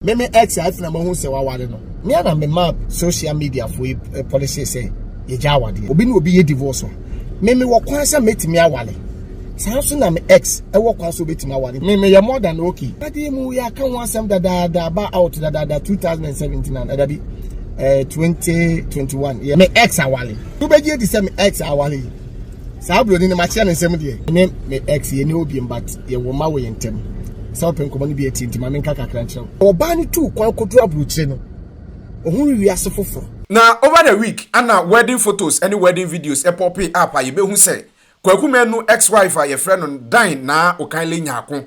me me ex a ɛfena mahu sɛ waware no me ana me ma social media fo yi eh, policy sɛ yɛgya awadeɛ obi ne obi yɛ divorce a me me wɔ kwan sɛ mɛtumi aware saa nso na me ex ɛwɔ kwan sɛ obɛtumi aware me meyɛ more than okay adeɛ mu yɛ aka ho asɛm dadaada aba out dadaada 2017 na ɛda bi eh, 2021 yɛ me ex aware wobɛgye adi sɛ me ex aware yi saa buroni no makyerɛ ne nsɛm deɛ me me ex yɛ ne obiam but yɛwɔ ma wɔ yɛn ntam sɛ wopɛ nkɔmmɔ no bi atie nti ma menka kakra nkyerɛ wo ɔbaa no tuu kwan kɔduru aburokyire no ɔhunu wiase foforɔ Na over the week ana wedding photos ne wedding videos popping up a yɛbɛhu sɛ Kwaku Manu ex wife a yɛfrɛ no Dan Naa Okanle Nyarko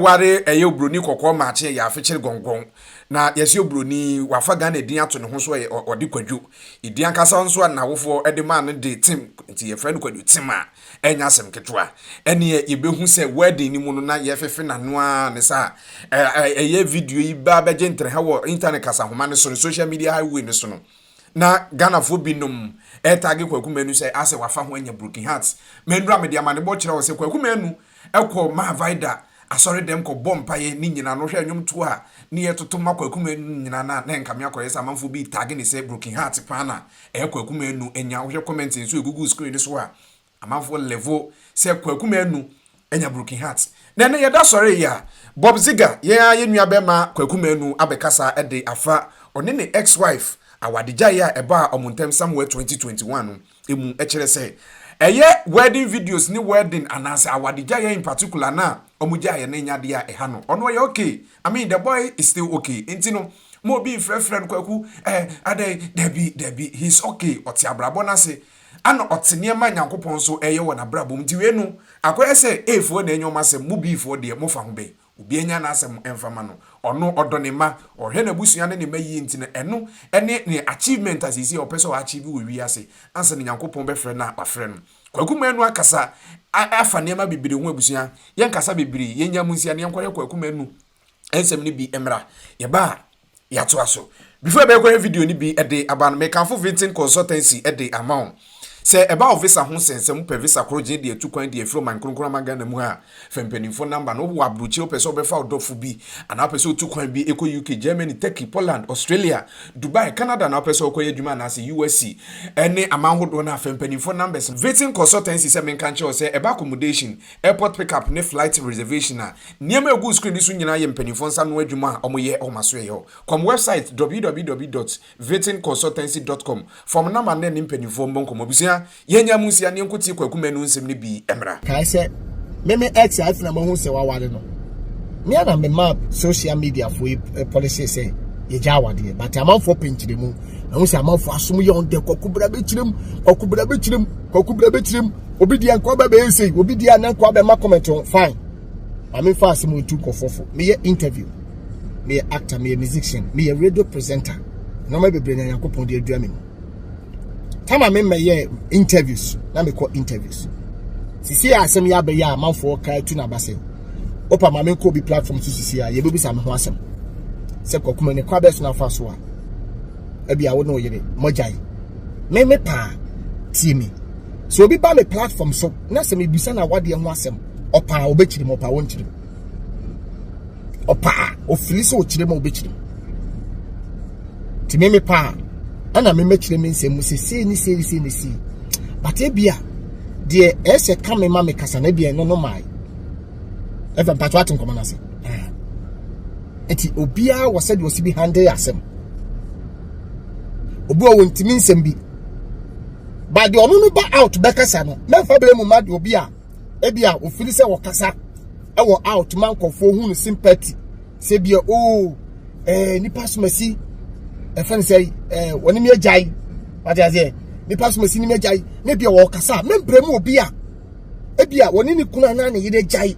ware ɛyɛ oburoni kɔkɔɔ maakye ɛyɛ afekyere gɔngɔn Na yɛse obroni yi wafa Ghana din ato ne ho so ɛ, ɔde Kwadwo. Edin ankasa nso a n'awofoɔ de maa no de Tim nti yɛfrɛ no Kwadwo Tim a, ɛnyɛ asɛm ketewa. Ɛneɛ yɛbɛhu sɛ wedding no mu no na yɛfefe n'ano ara ne saa. Ɛ, ɛ, ɛyɛ video yi baa bɛgye ntrɛha wɔ internet kasanhoma no so no, social media highway no so no, na Ghanafoɔ binom retagge Kwaku Manu sɛ asɛ wafa ho anya broken heart. Mɛnura mede amanebɔ kyerɛ wo sɛ Kwaku Manu Ɛkɔ maa vaida asɔre dɛm kɔ bɔ mpaeɛ ne nyina no hwɛ nwom toɔ a ne yɛ toto ma kwaku manu nyina na na nka me akɔ yɛ sɛ amanfoɔ bi retag ne sɛ broken heart paa na ɛyɛ kwaku manu anya wo hwɛ comment nso ɛgugu screen no so a amanfoɔ level sɛ kwaku manu anya broken heart na ɛnɛ yɛ da sɔre yɛ a bob ziga yɛn ara yɛ nua bɛma kwaku manu abɛ kasa de afa ɔne ne ex wife awade gyaeɛ a ɛbaa ɔmo ntɛm somewhere 2021 no mu kyerɛ sɛ ɛyɛ wedding videos ne wedding anaasɛ awadegyaeɛ in particular na wɔn gyaeɛ no nya adeɛ a ɛha no ɔno ɔyɛ okay I mean the boy is still okay nti no mo obi mfrɛfrɛ no kwaku ɛɛ eh, adɛn dabi dabi he is okay ɔte abrabɔ no ase ana ɔte nneɛma nyankopɔn nso ɛyɛ wɔ n'abrabɔ mu nti wei no akɔyɛ sɛ eefoɔ na ɛnyɛ wɔn asɛm mo biifoɔ deɛ mofa ho bɛn Obiara nya n'asɛm mfa ma no. Ɔno ɔdɔ ne mma, ɔhwɛ n'abusua ne ne mma yie nti no, ɛno ne ne achievement a seesei ɔpɛ sɛ ɔachieve wɔ wiase ansa na Nyankopɔn bɛfrɛ no a wafrɛ no. Kwaku Manu akasa afa nneɛma bebree ho abusua. Yɛnkasa bebree, yɛnnya mu nsia na yɛnkɔyɛ Kwaku Manu nsɛm no bi mmra. Yɛba a. yɛatoa so. Before ɛbɛkɔ yɛ video no bi de aba no, mekamfo Vinton Consultancy de ama wo. Sɛ ɛba wo visa ho sɛ, sɛ mopɛ visa koro gye de atu kwan de afiri ɔman kronkron ama Ghana mu a, fa mpanyimfo number no. Wowɔ aburokyire, wopɛ sɛ wobɛfa wo dɔfo bi, anaa wopɛ sɛ wotu kwan bi kɔ UK, Germany, Turkey, Poland, Australia, Dubai, Canada, anaa wopɛ sɛ wokɔyɛ adwuma anaasɛ USC ne aman hodoɔ no a, fa mpanyimfo numbers. Vinton Consultancy sɛ menka nkyerɛ wo sɛ ɛba accommodation, Airport pick-up ne flight reservation a nneɛma a egu screen no so nyinaa yɛ mpanimfoɔ nsa ano adwuma a wɔyɛ wɔ m'asoɛeɛ hɔ. Kɔm wɛbsaet www dot vitin consultancy dot com fam na ma ne ne mpanimfoɔ mmɔ nkɔmmɔ. Abusua, yɛnnya mu nsia ne yɛnkɔ tie Kwaku Manu nsɛm no bi mmra. Kae sɛ me me ex a afei na mahu sɛ waware no me a na memaa social media fo yi eh, policy sɛ yɛgya awadeɛ but amanfoɔ pɛ nkyerɛmu ahu sɛ amanfoɔ asom yɛ ɔndɛ kwaku bra bɛkyerɛm kwaku bra bɛkyerɛm kwaku bra bɛkyerɛm obi deɛ nkɔ bɛ bɛyɛ sei obi deɛ na nkɔ bɛ ma comment on fine maame fa asɛm ntu nkɔfɔfo meyɛ interview meyɛ actor meyɛ musician meyɛ radio presenter nneɛma bebree na nyankopɔn de adua me mu tama me mɛyɛ interviews na mekɔ interviews sisi a asɛm yɛ abɛyɛ a amanfoɔ ka atu n'aba sɛ opa maame nkɔ obi platform so sisi a yɛbɛbisa me ho asɛm sɛ kɔkuma ne kwa bɛso no afa so a ebi a wo ne wo yere mogyae me me paa tie me sɛ obi ba me platform so na sɛ mebisa na wadeɛ ho asɛm ɔpaa ɔbɛkyiri mu ɔpaa wɔnkyiri mu ɔpaa ɔfiri sɛ ɔkyiri mu ɔbɛkyiri mu nti me me paa ɛna me mɛkyerɛ me nsɛm mu sɛ sei ne sei ne sei ne sei but ebia deɛ ɛsɛ ka me ma me kasa na ebia ɛno no maae ɛfɛ mpatwa ate nkɔmɔ no ase nti obiara wɔ sɛdeɛ ɔsi bi handle asɛm obi a wɔntumi nsɛm bi ba deɛ ɔno no ba out bɛkasa no mɛmfa bɛyɛ mu ma deɛ obi a ebi a ofiri sɛ wɔkasa ɛwɔ out ma nkɔfoɔ hu no sympathy sɛ bia oo oh, ɛɛ eh, nipa somasi ɛfɛn sɛ ɛɛ eh, wɔn nim agyae wate aseɛ nipa somasi nim agyae ne bia wɔkasa mɛmbrɛ mu obi a ebi a wɔne ne kunu anaa ne yere agyae.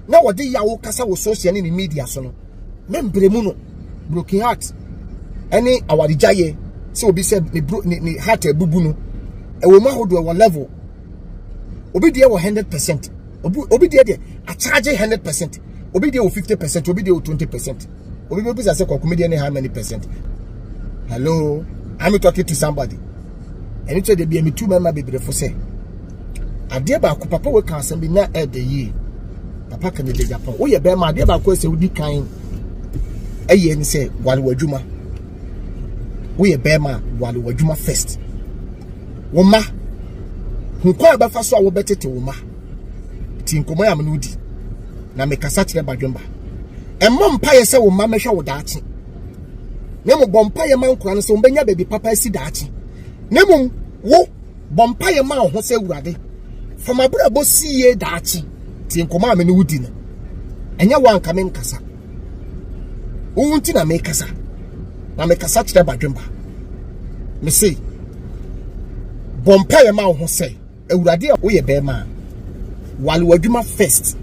na wɔde yaw kasa wɔ social ne ne media so no ne mbrɛ mu no broken heart ɛne awaregyaeɛ sɛ obi sɛ ne bro ne ne heart abubu no ɛwɔ mu ahodoɔ ɛwɔ level obi deɛ wɔ hundred percent obi obi deɛ deɛ akyagye hundred percent obi deɛ wɔ fifty percent obi deɛ wɔ twenty percent. obi bɛ bisa sɛ kɔ comedian how many percent hello i'm talking to somebody ɛne kyɛ de bi ɛmi tu mɛma bebree fo sɛ adeɛ baako papa wɔ kan asɛm bi na ɛɛdɛ yie papa kan ɛdɛ japan woyɛ bɛrima adeɛ baako ɛsɛ wodi kan ɛyɛ ne sɛ wale wɔ adwuma woyɛ bɛrima wale wɔ adwuma first wɔn ma nkwa a bɛfa so a wɔbɛtete wɔn ma. nti nkɔmmɔ a me ne wo di na mekasa kyerɛ badwemba ɛmmɔ mpaeɛ sɛ wo mma mɛhwɛ wo daakye na mmom bɔ mpaeɛ ma nkora no sɛ wɔbɛnya baabi papa asi daakye na mmom wo bɔ mpaeɛ ma wo ho sɛ awurade fa m'abrabɔ si yie daakye nti nkɔmmɔ a me ne wo di no ɛnyɛ wo anka me nkasa wowu nti na mekasa na mekasa kyerɛ badwemba mese bɔ mpaeɛ ma wo ho sɛ Awurade a woyɛ bɛrima a, wale w'adwuma first.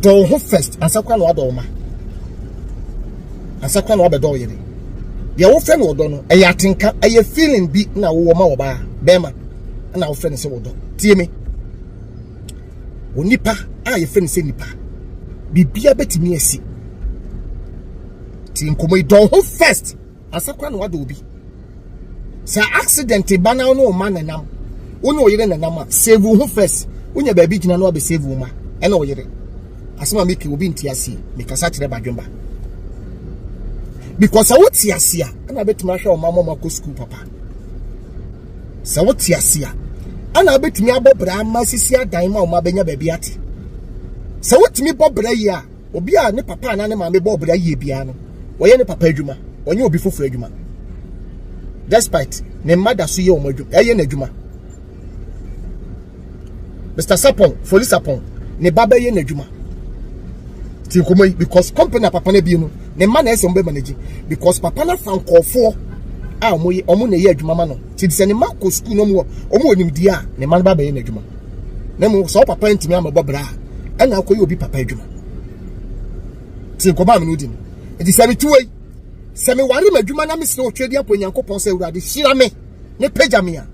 Dɔ wo ho first ansa koraa na wadɔ wo ma. Ansa koraa na wabɛdɔ wo yere. Deɛ wofrɛ no ɔdɔ no, ɛyɛ atenka, ɛyɛ feeling bi na wowɔ ma ɔbaa bɛrima na wofrɛ no sɛ ɔdɔ. Tie me. Onipa a yɛfrɛ no sɛ nipa, biribiara bɛtumi asi. Ti nkɔmmɔ yi, dɔ wo ho first. asa kora na wada obi sɛ accident ba na ɔne ɔma nenam wo ne ɔyere nenam a save wo ho first wonya baabi gyina na wabɛ save wo ma ɛna ɔyere asɛm a meke obi nte aseɛ mekasa kyerɛ badwemba because sɛ wote ase a ɛna bɛtumi ahwɛ ɔma mɔma kɔ sukuu papa sɛ wote ase a ɛna bɛtumi abɔ bra ma sisi adan ma ɔma bɛnya baabi ate sɛ wotumi bɔ bra yi a Obi a ne papa anaa ne maame bɔɔ bra yie biara no, ɔyɛ ne papa adwuma, ɔnyɛ obi foforɔ adwuma. Despite ne mma da so yɛ wɔn adwuma, ɛyɛ n'adwuma. Mr. Sapon, Foli Sapon, ne ba bɛyɛ n'adwuma. Ti nkɔmɔ yi because company a papa no abie no, ne mma na ɛsɛ wɔn bɛ manage because papa no afa nkɔɔfoɔ a wɔn yɛ wɔn na ɛyɛ adwuma ma no. Ti sɛ ne mma kɔ sukuu na wɔn wɔ wɔn wɔ nimdeɛ a, ne mma no ba bɛyɛ n'adwuma. na mmom sɛ ɔpapa ntumi amɛbɔ bra a ɛna akɔyɛ obi papa adwuma ti nkɔmɔ amene odi no nti sɛ metu wei sɛ meware m'adwuma na mesrɛ ɔtwe adi apɔ nyankopɔn sɛ awurade hyira me ne pagya me a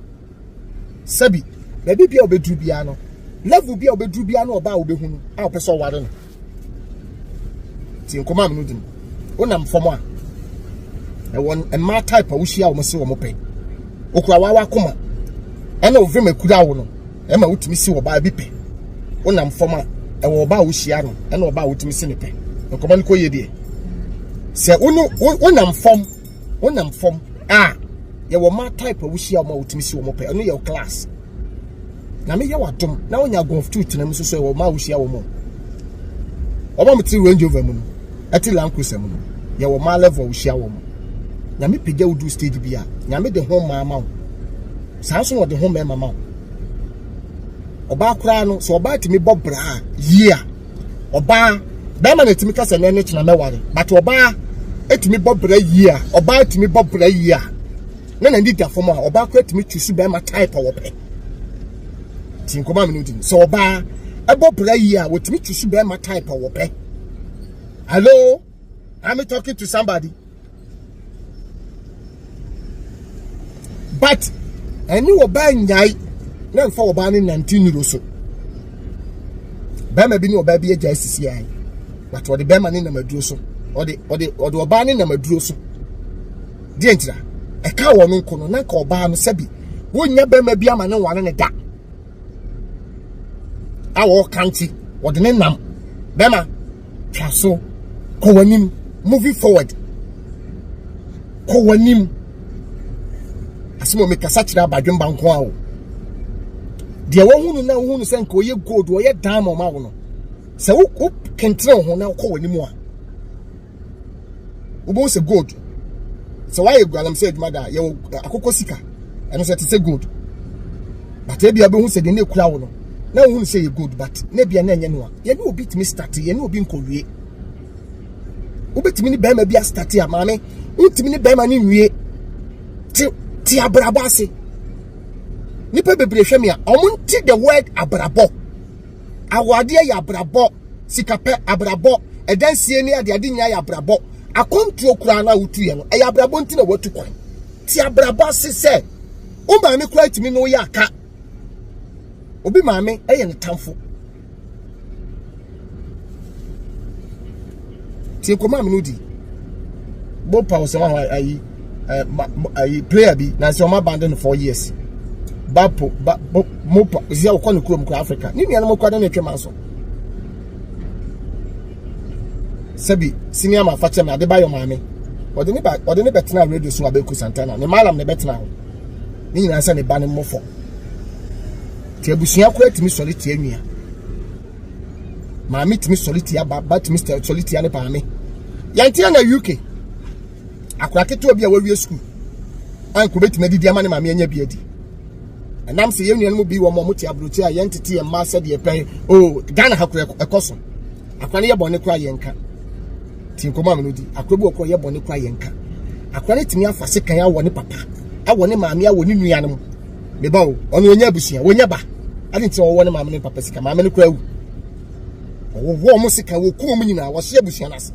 sɛbi baabi bia ɔbɛduru biara no level bia ɔbɛduru biara no ɔbaa wobɛhu no a ɔpɛ sɛ ɔware no ti nkɔmɔ amunu di wonam fam a ɛwɔ mmaa type a wohyia wɔn se wɔn pɛ okura wawa akoma ɛna ovim ekura wo no ɛma wotumi si ɔbaa bi pɛ wonam fam a ɛwɔ ɔbaa a wohyia no ɛna ɔbaa a wotumi si ne pɛ nkɔmɔ no kɔ yie deɛ sɛ wonam fam. honam fam a yɛwɔ mmaa type a wohyia wɔn a wotumi si wɔn pɛ ɛno yɛ class na meyɛ wadom na wonya golf two tena mu soso ɛwɔ mmaa a wohyia wɔn wɔn a wɔte range over mu no ɛte land cruiser mu no yɛwɔ mmaa level a wohyia wɔn nyame pagya wo du stage bi a nyame de ho mmaa ma wo saa nso na ɔde ho mmarima ma wo ɔbaa koraa no sɛ ɔbaa tumi bɔ braa yie a ɔbaa bɛrima na etumi kasa na ɛne kyena mɛware but ɔbaa etumi bɔ bra yie a ɔbaa etumi bɔ bra yie a na na nida fam a ɔbaa kora etumi tusu bɛrima type a wɔpɛ ti nkɔmɔ mi no di sɛ ɔbaa ɛbɔ bra yie a wɔtumi tusu bɛrima type a wɔpɛ hello. I'm talking to somebody. But ɛne ɔbaa nyae na nfa ɔbaa ne nante niro so. Bɛrima bi ne ɔbaa bi agya asisi ae. But ɔde bɛrima ne nam aduro so. Ɔde ɔde ɔde ɔbaa ne nam aduro so. Deɛ ntira ɛka wɔn no nko no na nka ɔbaa no sɛbi wonya bɛrima bi ama ne nwane ne da. A wɔka nti ɔde ne nam bɛrima Tra so. Kɔ w'anim. Moving forward. Kɔ w'anim. Asɛm a mekasa kyerɛ abadwemba nko a o. Deɛ wɔhu no na wohu no sɛ nka ɔyɛ gold, ɔyɛ diamond ma wo no. Sɛ wo wo kentene ho na wokɔ w'anim a, wobɛhu sɛ gold. Sɛ woayɛ galamsey adwuma da a, yɛwɔ akokɔ sika. Ɛno sɛ te sɛ gold. But ebia wobɛhu sɛ deɛ na ekura wo no, na wohu no sɛ yɛ gold but na ebia na ɛnyɛ noa. Yɛne obi tumi starte, yɛne obi nkɔwie. Wobɛtumi ne bɛrima bi astate a maame, wontumi ne bɛrima no nwie te te abrabɔ ase. Nipa bebree hwɛ me a, wɔn nti the word abrabɔ. Awadeɛ yɛ abrabɔ, sikapɛ abrabɔ, ɛdansie ne ade ade nyinaa yɛ abrabɔ. Akɔntuo koraa no a wotuiɛ no, ɛyɛ abrabɔ nti na watu kwan. Te abrabɔ ase sɛ, wo maame koraa tumi ne woyɛ aka. Obi maame yɛ ne tamfo. tie kɔma mi no di bó pa ɔsɛ wa hɔ ayi ɛ ma ayi player bi na nsɛ ɔmo abandon no four years ba po ba mo mo pa zi a ɔkɔ ne kurom kɔ africa ne nua no mo kɔ ne ne twɛ ma so sɛbi sini ama afa kyɛm na ade ba yɛ maame ɔde ne ba ɔde ne bɛ tena radio so abɛku santana ne maalam ne bɛ tena hɔ ne nyinaa sɛ ne ba ne mmɔfɔ. Nti abusua koraa tumi sɔre tia nua. Maame tumi sɔre tia ba, ba tumi sɔre tia ne maame. Yɛnteɛ na UK. Akora ketewa bi a wawie sukuu. Anko betumi adidi ama ne maame anya bi adi. Ɛnam sɛ yɛn nuanom bi wɔn a wɔte aburokyi a yɛntete yɛn mmaa sɛdeɛ pɛn. O Ghana ha koraa ɛkɔ so. Akora no yɛ bɔne koraa yɛnka. Ti nkɔmɔ a mene di. Akora bi wɔ koraa yɛ bɔne koraa yɛnka. Akora no tumi afa sekan awɔ ne papa, awɔ ne maame, awɔ ne nuanom. me ba o ɔno ɔnyɛ abusua wɔnyɛ ba ade nti ɔwɔ ne maame ne papa sika maame no kura awu ɔwɔ ɔmo sika wɔku ɔmo nyinaa wɔhyɛ abusua no ase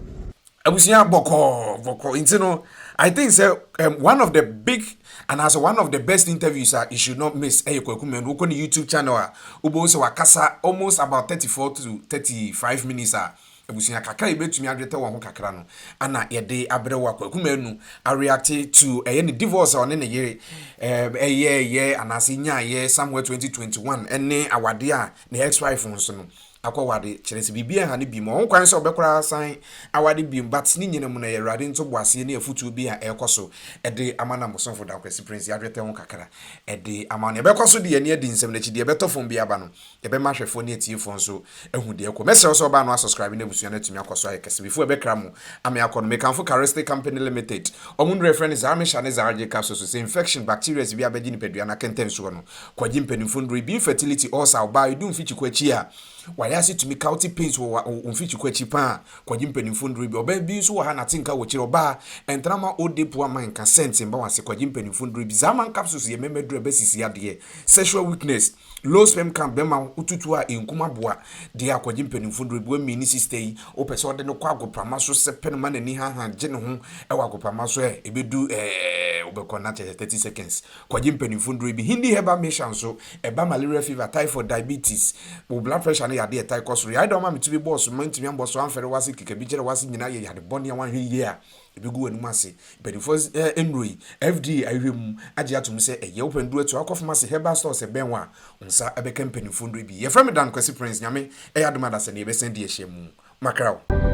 abusua bɔkɔɔ bɔkɔɔ nti no i think sɛ um, one of the big and as one of the best interviews a you should not miss ɛyɛ kwaku mɛn wokɔ ne youtube channel a wobɛhu sɛ wakasa almost about 34 to 35 minutes a Abusua kakra a yebetumi adwetɛ wɔn ho kakra no, Anna yɛ de abrɛ wo akwaku manu, Areate to ɛyɛ ne divorce a ɔne ne yere ɛyɛɛyɛ anaase nyaayɛ somewhere 2021 ne awade a ne ex wife nso no akɔ wade kyerɛ sɛ biribi ɛnha no biom ɔho kwan sɛ ɔbɛkora asan awade biom but ne nyina mu no ɛyɛ awurade nto boaseɛ ne afutuo bi a ɛkɔ so ɛde ama na mosomfo da kwasi prince yadwetɛ ho kakra ɛde ama no ɛbɛkɔ so de yɛne adi nsɛm no akyi deɛ ɛbɛtɔ fam bi aba no Yɛbɛma ahwɛfoɔ ne atiefoɔ nso ahu deɛ ɛrekɔ. Mɛsrɛ wo sɛ wobaa no asɔskraibe na abusua no atumi akɔ so ayɛ kɛse. Before ɛbɛkra mu ame akɔ no, mekamfo Carestic Company Limited, wɔn nnuro a yɛfrɛ no Zarmisha ne Zarge capsules. Sɛ infection, bacterias bi abɛgye nipadua no akɛntɛnsoɔ no, kɔ gye mpanimfoɔ nnuro yi bi. Infertility, ulcer, ɔbaa a ɛdu mfikyiko akyi a wayɛ ase tumi ka, wote pains wɔ wo mfikyiko akyi paa a, kɔ gye mpanimfoɔ nnuro yi bi. Ɔbaa bi nso wɔ ha nate nka wɔ akyire, ɔbaa a ɛntena ma old day poa ma nka scent mma wase, kɔ gye mpanimfoɔ nnuro yi bi. Zaaman capsules yɛ mmɛmma aduro a ɛbɛsisi adeɛ, sexual weakness, Low sperm count bɛma wo tutuw a enkum aboa de akɔgye mpanyimfo nnuru. Bua Mii ne sista yi, wopɛ sɛ ɔde no kɔ agoprama so sɛpɛ no ma n'ani hahã gye ne ho wɔ agoprama so ɛ? Ebedu ɛ, wobɛkɔ nna kyɛ sɛ thirty seconds. Kɔgye mpanyimfo nnuru bi. Hindi herbal mixture nso, ɛba malaria fever, typhoid, diabetes. Wo blood pressure ne yade a ɛtaa kɔ soro. Yare da wo ma me ti bi bɔɔ so, mantumi ammɔ so amfɛre w'ase, keka bi kyerɛ w'ase nyinaa yɛ yade bɔne a woanhwɛ yiye a. Ebegu w'anom ase. Mpanyimfo nnuru yi, FDA ahwehwɛ mu agye atom sɛ ɛyɛ wo pɛ. Nnuru atu akɔ pharmacy, herbal stores ɛbɛn wo a, wo nsa bɛka mpanyimfo nnuru bi. Yɛfrɛ me Dan Kwasi Prince. Nyame yɛ adom a da sɛ nnɛ yɛbɛsan adi ahyia mu. Makra wo.